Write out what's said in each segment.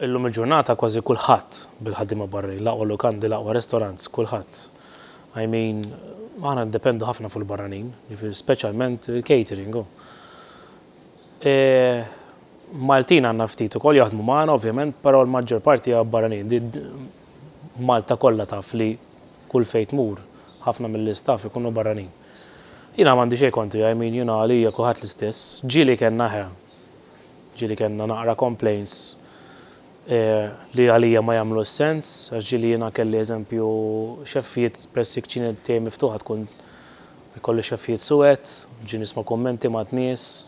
Illum il-ġurnata kważi kulħadd bil-ħaddiema barranin, l-aqwa lukandi, l-aqwa restaurants, kulħadd. I mean, aħna niddependu ħafna fuq il-barranin, jiġifieri speċjalment il-catering. Oh. E, Maltin għandna ftit ukoll jaħdmu magħna ovvjament, però l-maġġor parti hija barranin. Malta kollha taf li kull fejn tmur ħafna mill-istaff ikunu barranin. Jina m'għandi xejn kontri, I mean, jina għalija kulħadd l-istess. Ġieli kellna ħe, Ġieli kellna naqra complaints li għalija ma jagħmlux sens, għax ġieli jiena kelli eżempju xeffijiet press il-kċina tiegħi miftuħa tkun ikolli xeffijiet suwed, ġi nisma' kummenti ma' nies,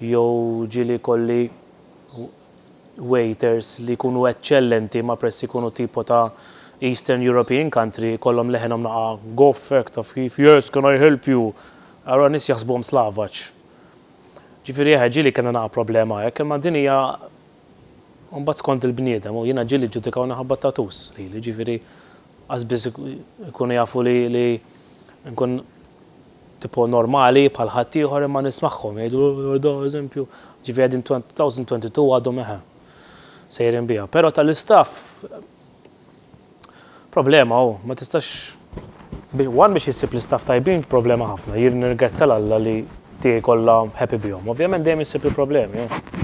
jew ġieli kolli waiters li jkunu eċċellenti ma' press ikunu tipo ta' Eastern European country jkollhom leħenhom naqa' gofek taf kif, yes can I help you? Allura nies jaħsbuhom slavaġ. Ġifieri eħe ġieli kellna naqa' problema hekk, imma din hija mbagħad skont il-bniedem u jiena ġieli ġġudikawni ħabba t-tattoos lili, ġifieri qas biss ikunu jafu li li nkun tipo normali bħal ħaddieħor imma nismagħhom jgħidu oh, da eżempju, ġifieri din 2022 għadhom eħe sejrin biha. Però tal-istaff Problema hu, ma tistax one biex issib l-istaff tajbin problema ħafna. Jien nirgrazzja l-Alla li tiegħi kollha happy bihom. Ovvjament dejjem issib il-problemi. Eh.